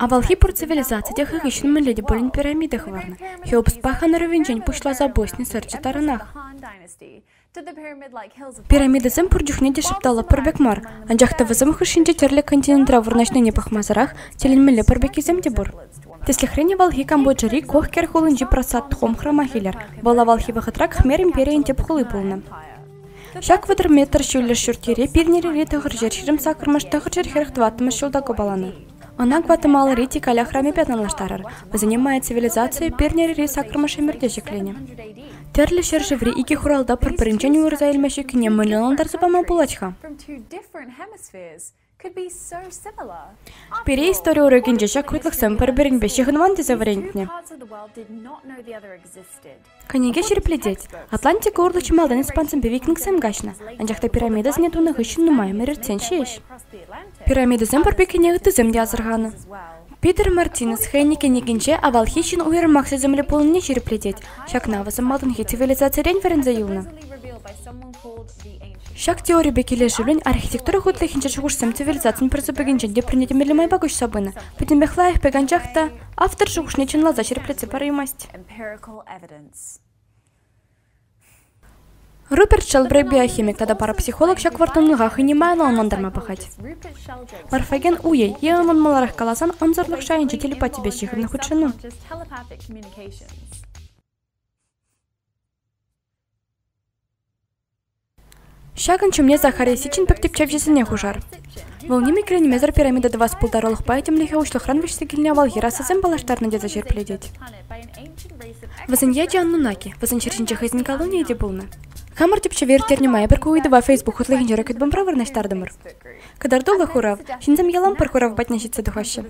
Авалхи пур цивилизаци те хӑй хыҫҫӑн мӗнле те пулин пирамида хӑварнӑ. Хеопспа хан-ӑрӑвӗнчен пуҫласа босни сӑрчӗ таранах. Пирамидӑсем пур чухне те шӑпталлӑ пӗр пек мар, анчах та вӗсем хушшинче тӗрлӗ континентра вырнаҫнине пӑхмасӑрах тӗлӗнмелле пӗр пеккисем те пур. Тӗслӗхрен, авалхи Камбоджӑри Кохкер хулинчи Прасад Хом храмах илер. Вӑл авалхи вӑхӑтра Хмер империйӗн тӗп хули пулнӑ. Ҫак вӑтӑр метр ҫӳллӗш ҫурт-йӗре пирӗнле тӑхӑр ҫӗр ҫирӗм-саккӑрмӗш, тӑхӑр ҫӗр хӗрӗх-тӑваттӑмӗш ҫулта купаланӑ. Ӑна Гватемалӑри Тикаль ахрамӗпе танлаштарар. Вӗсене Мая цивилизацийӗ пирӗнле саккӑрмӗш ӗмӗрте ҫӗкленӗ. Тӗрлӗ ҫӗршыври икӗ хуралта пӗр-пӗринчен уйӑрса илме ҫуккине мӗнле ӑнлантарса пама пулать-ха? Пире истори урокӗнче ҫак хӑтлӑхсем пӗр-пӗринпе ҫыхӑнман тесе вӗрентнӗ. Кӗнеке ҫирӗплетет, Атлантика урлӑ малтан испансемпе викингсем каҫнӑ, анчах та пирамидӑсене тунӑ хыҫҫӑн нумай ӗмӗр иртсен ҫеҫ. Пирамидӑсем пурпеккине ыттисем те асӑрханӑ. Питер Мартинес хӑйӗн кӗнекинче авалхи ҫын уйрӑмах сисӗмлӗ пулнине ҫирӗплетет. Ҫакна вӑсӑ малтанхи цивилизацирен вӗренсе юлнӑ. Ҫак теорипе килӗшӳлӗн архитектура хутлӑхӗнчи шухӑшсем цивилизацин пӗрсупӑкӗнчен те пӗрне майпа куҫса пынӑ. Пӗтӗмпех лайӑхпек анчах та автор шухӑшне чӑнласа ҫирӗплетсе параймасть. Руперт шӑл биохимик тата парапсихолог ҫак вӑрттӑнлӑха хӑйне майлӑ ӑнлантарма пӑхать. Морфоген уйӗ е ӑнӑн маларах каласан ӑнсӑрлӑх шайӗнчи телепатипе ҫыхӑннӑ хутшӑну. Ҫакӑн ҫумне Захарий Сичин пек тӗпчевҫӗсене хушар. Вӑл ним иккӗленмесӗр пирамида тӑвас пултарулӑхпа этемлӗхе уҫлӑхран вӗҫсе килнӗ авалхи расасем паллаштарнӑ тесе ҫирӗплетет. Вӗсен ячӗ Аннунаки, вӗсен ҫӗр ҫинче хӑйсен колонийӗ те пулнӑ. Хамӑр тӗпчеве ирттернӗ май пӗр ку ыйтӑва Facebook хутлӑхӗнчи ракетбомбра вырнаҫтартӑмӑр. Кӑтартуллӑ хурав, ҫынсем ялан пӗр хурав патне ҫитсе тухаҫҫӗ.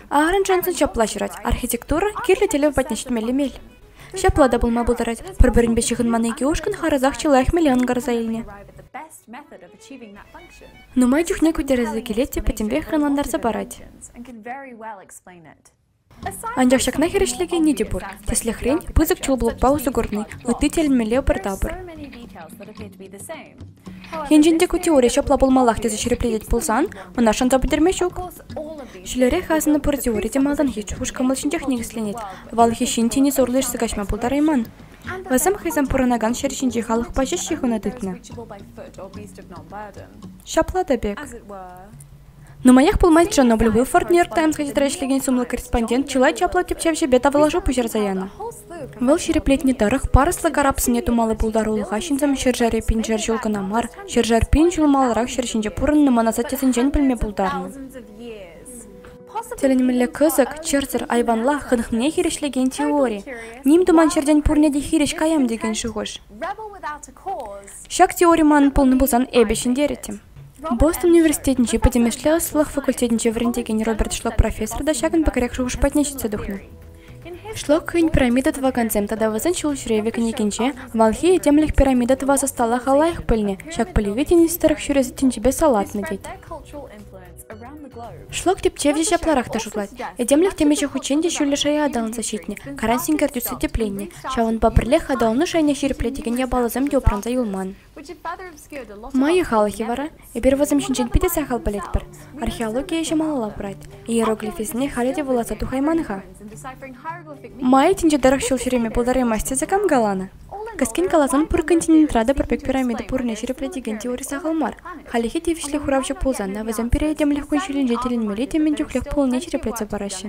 Аарон Джонсон ҫапла ҫырать, архитектура кирлӗ тӗлев патне ҫитмелли мел. Ҫапла та пулма пултарать. Пӗр-пӗринпе ҫыхӑнман икӗ ушкӑн харӑсах чылай хмеле ӑнкарса илнӗ. Нумай чухне кутересе килет те пӗтӗмпех ӑнлантарса парать. Анчах ҫакна хирӗҫлекенни те пур. Тӗслӗхрен, пысӑк чул блокпа усӑ курни, ытти тӗлӗнмелле пӗр тапӑр. Енчен те ку теори ҫапла пулмаллах тесе ҫирӗплетет пулсан, ӑна шанса пӗтерме ҫук. Ҫӳлерех асӑннӑ пӗр теори те малтанхи чух кӑмӑл ҫинчех никӗсленет. Авалхи ҫын тени сорла ишсе каҫма пултарайман. Вӗсем хӑйсем пурӑнакан ҫӗр ҫинчи халӑхпа ҫеҫ ҫыхӑну тытнӑ. Ҫапла та пек. Нумаях пулмасть Чернобыль Уилфорд Нью-Йорк Таймсра тетрадь ӗҫлекен сумлӑ корреспондент чылай чаплӑ тӗпчевҫӗпе тавлашу пуҫарса янӑ. Вӑл ҫирӗплетни тӑрӑх, парӑслӑ карапсене тумалли пултарулӑха ҫынсем ҫӗршыври пиншер ҫул кӑна мар, ҫӗршер пин ҫул маларах ҫӗр ҫинче пурӑннӑ мӑн асаттесенчен пӗлме пултарнӑ. Тӗлӗнмелле кӑсӑк, чӑрсӑр айванла хӑнӑхнине хирӗҫлекен теори. Ним туман ҫӗртен пурне те хирӗҫ каям текен шухӑш. Ҫак теори манӑн пулнӑ пулсан эпӗ ҫӗнтерӗттӗм. Бостон университетӗнчи пӗтӗмӗшле ӑслӑлӑх факультетӗнче вӗрентекен Роберт Шлок профессор та ҫакӑн пӗкрех шухӑш патне ҫитсе тухнӑ. Шлок хӑйӗн пирамида тӑвакансем тата вӗсен ҫул ҫӳревӗ кӗнекинче авалхи этемлӗх пирамида тӑвас ӑсталӑха лайӑх пӗлнӗ, ҫак пӗлӗве тинӗс тӑрӑх ҫӳрес тӗнчипе салатнӑ тет. Шлак тӗпчевҫӗ ҫапларах та шутлать. Этемлӗх темиҫе хутчен те ҫӳллӗ шая аталанса ҫитнӗ, каран синкер тӳссе тӗпленнӗ. Ҫавӑнпа пӗрлех аталану шайне ҫирӗплетекен япаласем те упранса юлман. Майя халӑхӗ вара, эпир вӗсем ҫинчен питӗ сахал пӗлетпӗр. Археологи ӗҫӗ малалла пырать. Иероглифӗсене халӗ те вуласа тухайман-ха. Майя тӗнче тӑрӑх ҫул ҫӳреме пултараймасть тесе кам каланӑ? Кӗскен каласан, пур континентра та пӗр пек пирамида пуррине ҫирӗплетекен теори сахал мар. Хальлӗхе тивӗҫлӗ хуравҫӑ пулсан та вӗсем пире этемлӗх кун-ҫулӗнче тӗлӗнмелли те мӗн чухлех пулнине ҫирӗплетсе параҫҫӗ.